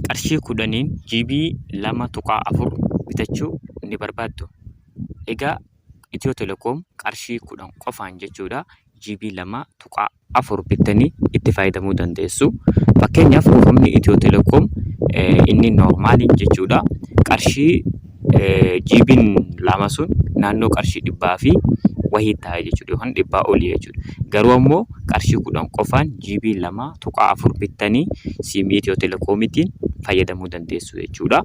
qarshii kudhaniin GB 2.4 bitachuu ni barbaaddu. Egaa Itiyoo Telekoom qarshii kudhan qofaan jechuudha GB 2.4 bittanii itti fayyadamuu dandeessu. Fakkeenyaaf buufamni Itiyoo Telekoom inni noormaaliin jechuudha qarshii jiibiin lama sun naannoo qarshii dhibbaa fi wayii ta'a jechuudha yookaan dhibbaa olii jechuudha. Garuu ammoo qarshii kudhan qofaan jiibii lama tuqaa afur bittanii siimii Itiyoo Telekoomiitiin fayyadamuu dandeessu jechuudha.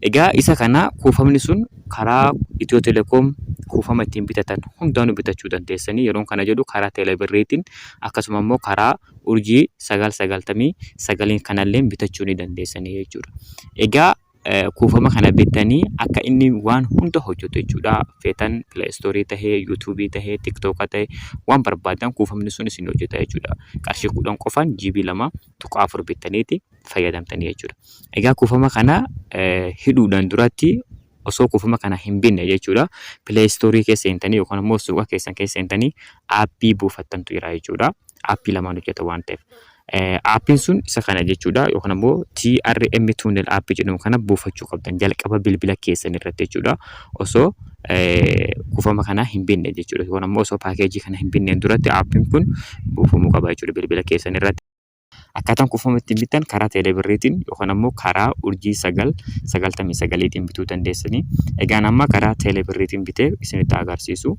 Egaa isa kana kuufamni sun karaa Itiyoo Telekoom kuufama ittiin bitatan hundaanuu bitachuu dandeessanii yeroon kana jedhu karaa Teeleebirriitiin akkasuma immoo karaa urjii sagal sagaltamii sagaliin kanalleen bitachuu ni dandeessanii jechuudha. Egaa kuufama kana bittanii akka inni waan hunda hojjetu jechuudha. Feetan pileestoorii ta'ee, yuutuubii ta'ee, tiktooka ta'ee waan barbaaddan kuufamni sun isinii hojjeta jechuudha. Qarshii kudhan qofaan GB lama tuqaa afur bittaniiti fayyadamtanii jechuudha. Egaa kuufama kana hidhuudhaan duratti osoo kuufama kana hin binne jechuudha. Pileestoorii keessa seentanii yookaan immoo suuqa keessan keessa seentanii aappii buufattantu jira jechuudha. Aappii lamaan hojjeta waan ta'eef. Aappiin sun isa kana jechuudha yookaan ammoo TRM Tunnel App jedhamu kana buufachuu qabdan jalqaba bilbila keessan irratti jechuudha. Osoo kuufama kana hin binne jechuudha yookaan ammoo osoo paakeejii kana hin binneen duratti aappiin kun buufamuu qaba jechuudha bilbila keessan irratti. Akkaataan kuufama ittiin bittan karaa teeleebirriitiin yookaan ammoo karaa urjii sagal sagaltamii sagaliitiin bituu dandeessanii. Egaan amma karaa teeleebirriitiin bitee isinitti agarsiisu.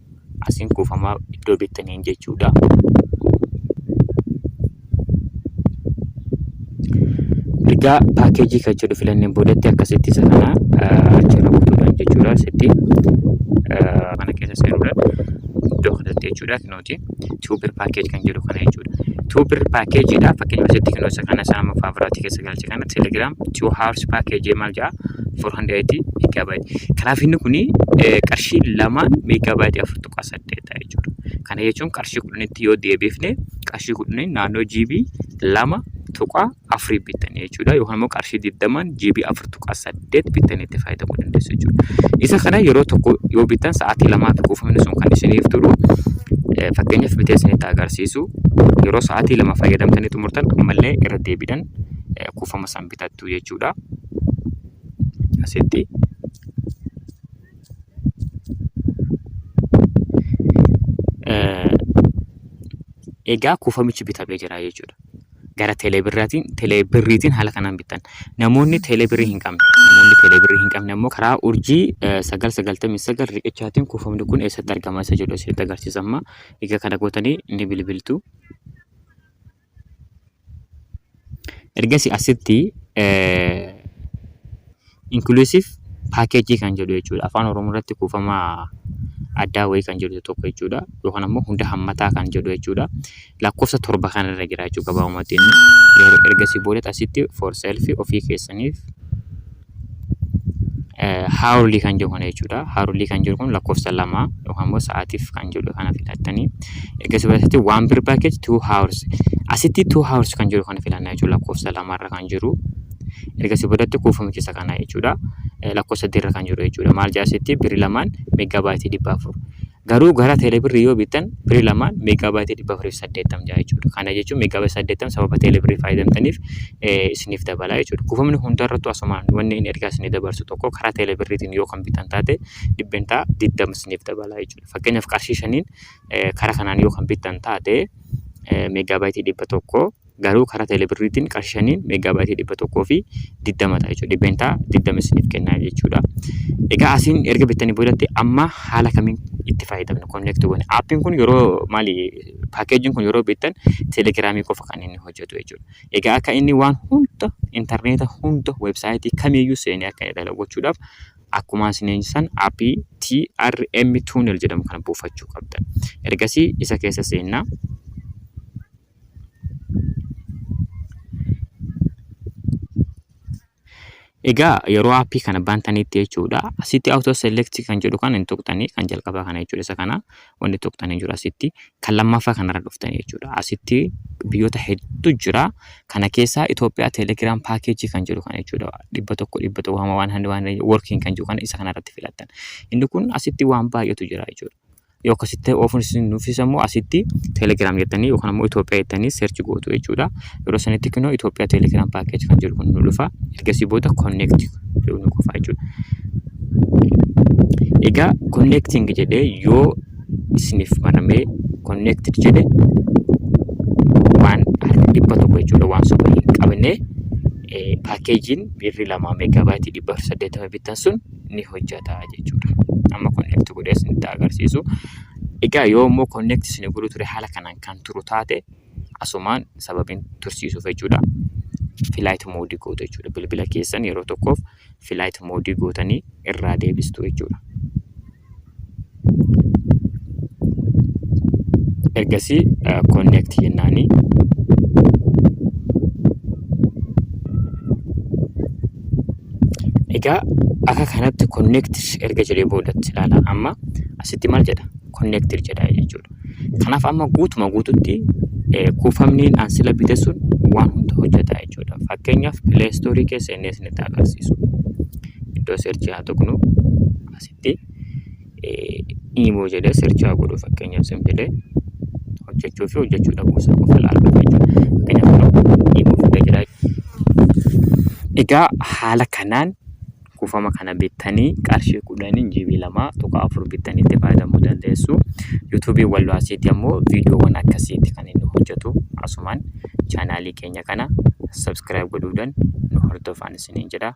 Asiin kuufamaa iddoo beektaniin jechuudha. Ergaa paakeejii kan jedhu filanneen boodatti akkasitti isa kana achirra kutuudhaan jechuudha. Asitti mana keessa seenuudhaan iddoo kanatti jechuudha. Nuti tuubir paakeej kan jedhu kana jechuudha. Tuubir paakeejiidha. Fakkeenyaaf asitti kan isa kana saama faabiraatti keessa galche kana telegram two hours package maal ja'a 480 megabyte kanaaf inni kun qarshii lamaan megabyte 4.8 ta'a jechuudha kana jechuun qarshii kudhanitti yoo deebifne qarshii kudhanii naannoo GB lama tuqaa afurii bittan jechuudha yookaan immoo qarshii digdamaan GB afur tuqaa saddeet saddeet bittanii itti fayyadamuu dandeessu jechuudha. Isa kana yeroo tokko yoo bittan sa'aatii lamaa fi kuufamni sun kan isiniif turu eh, fakkeenyaaf bitee isinitti agarsiisu yeroo sa'aatii lama fayyadamtanii xumurtan ammallee irra deebiidhaan eh, kuufama san bitattu jechuudha. Asitti eh, egaa kuufamichi bitamee jira jechuudha. gara teeleebirriitiin haala kanaan bittan. Namoonni teeleebirrii hin qabne namoonni teeleebirrii hin qabne ammoo karaa urjii 999 riqichaatiin kuufamni kun eessatti argama isa jedhu isinitti agarsiisa amma. Egaa kana gootanii ni bilbiltu. Ergasii asitti Inclusive package kan jedhu jechuudha. Afaan Oromoo irratti kuufama addaa wayii kan jedhu tokko jechuudha. Yookaan ammoo hunda hammataa kan jedhu jechuudha. Lakkoofsa torba kan irra jira jechuudha gabaabumatti inni. Ergasii booda asitti for self ofii keessaniif haarulii kan jedhu kana jechuudha. Haarulii kan jedhu kun lakkoofsa lama yookaan ammoo sa'aatiif kan jedhu kana filattanii. Ergasii booda asitti one per package two hours. Asitti two hours kan jedhu kana filanna jechuudha lakkoofsa lamarra kan jiru. Ergasii boodatti kuufama keessa kaa'na jechuudha. Lakkoofsa sadiirra kan jiru jechuudha. Maal jedha asitti birri lamaan meeggaa baayitii dhibba afur. Garuu gara teelebirrii yoo bittan birri lamaan meeggaa baayitii dhibba afurii fi saddeettam jedha jechuudha. Kana jechuun meeggaa baayitii saddeettam sababa teelebirrii fayyadamtaniif isiniif dabala jechuudha. Kuufamni hundarrattuu asumaan wanni inni ergaa isinii dabarsu tokko karaa teelebirriitiin yoo kan bittan taate dhibbentaa digdama isiniif dabala jechuudha. Fakkeenyaaf qarshii shaniin karaa kanaan yoo kan bittan taate meeggaa baayitii dhibba tokko garuu karaa telebirriitiin qarshii shaniin meegaabaayitii dhibba tokkoo fi digdama ta'a jechuudha. Dhibbeentaa digdama isiniif kennaa jechuudha. Egaa asiin erga bittanii boodatti amma haala kamiin itti fayyadamna konneekti goone. Aappiin kun yeroo maali paakeejiin kun yeroo bittan telegiraamii qofa kan inni hojjetu jechuudha. Egaa akka inni waan hunda intarneeta hunda weebsaayitii kamiyyuu seenee akka inni dalagu gochuudhaaf akkuma isiniin san aappii TRM Tunnel jedhamu kana buufachuu qabdan. Ergasii isa keessa seennaa. Egaa yeroo appii kana bantanitti jechuudha asitti auto select kan jedhu kan hin tuqxanii kan jalqabaa kana jechuudha isa kana wanti tuqxanii jiru asitti kan lammaffaa kanarra dhuftanii jechuudha asitti biyyoota hedduu jira kana keessaa Itoophiyaa teelegiraam paakeejii kan jedhu kana jechuudha dhibba tokko dhibba tokko waan waan handi waan workiin kan jedhu kana isa kanarratti filattan inni kun asitti waan baay'eetu jira jechuudha. Yoo akkasitti ta'e oofuun isin nuffisa immoo asitti Telegram jettanii yookaan immoo Itoophiyaa jettanii search gootu jechuudha. Yeroo sanitti kunoo Itoophiyaa Telegram package kan jedhu kun nu dhufa. Ergasii booda connect jedhu nu qofa jechuudha. Egaa connecting jedhee yoo isiniif maramee connected jedhe waan dhibba tokko jechuudha waan soba hin qabne paakeejiin birri lama meegaabaayitii dhibba saddeettama bittan sun ni hojjata jechuudha. Amma connect godhee isinitti agarsiisu. Egaa yoo immoo connect isin godhu ture haala kanaan kan turu taate asumaan sababiin tursiisuuf jechuudha. Flight mode gootu jechuudha. Bilbila keessan yeroo tokkoof flight mode gootanii irraa deebistu jechuudha. ergasii connect jennaani egaa akka kanatti connect erga jedhee boodatti ilaala amma asitti maal jedha connect jedha jechuudha kanaaf amma guutuma guututti eh, kuufamni aan sila bite sun waan hunda hojjeta jechuudha fakkeenyaaf play store keessa inni isinitti agarsiisu iddoo seerchii haa tuqnu irratti imo jedhee search haa godhu fakkeenyaaf simply hojjechuu fi hojjechuu dhabuu isaa qofa ilaaluu jechuudha. Fakkeenyaaf imo fidee jira. Egaa haala kanaan kuufama kana bittanii qarshii kudhaniin GB lama tuqaa afur bittanii itti fayyadamuu dandeessu. Yuutuubiin wal waasiitti ammoo viidiyoowwan akkasiitti kan inni hojjetu asumaan chaanaalii keenya kana subscribe godhuudhaan nu hordofaan isiniin jedha.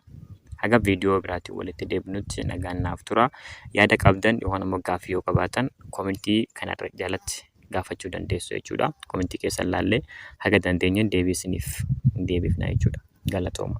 Haga viidiyoo biraatiin walitti deebinutti nagaan naaf tura. Yaada qabdan yookaan immoo gaaffii yoo qabaatan komentii kana jalatti gaafachuu dandeessu jechuudha. Komentii keessan laallee haga dandeenyeen deebii isiniif deebifna jechuudha. Galatooma.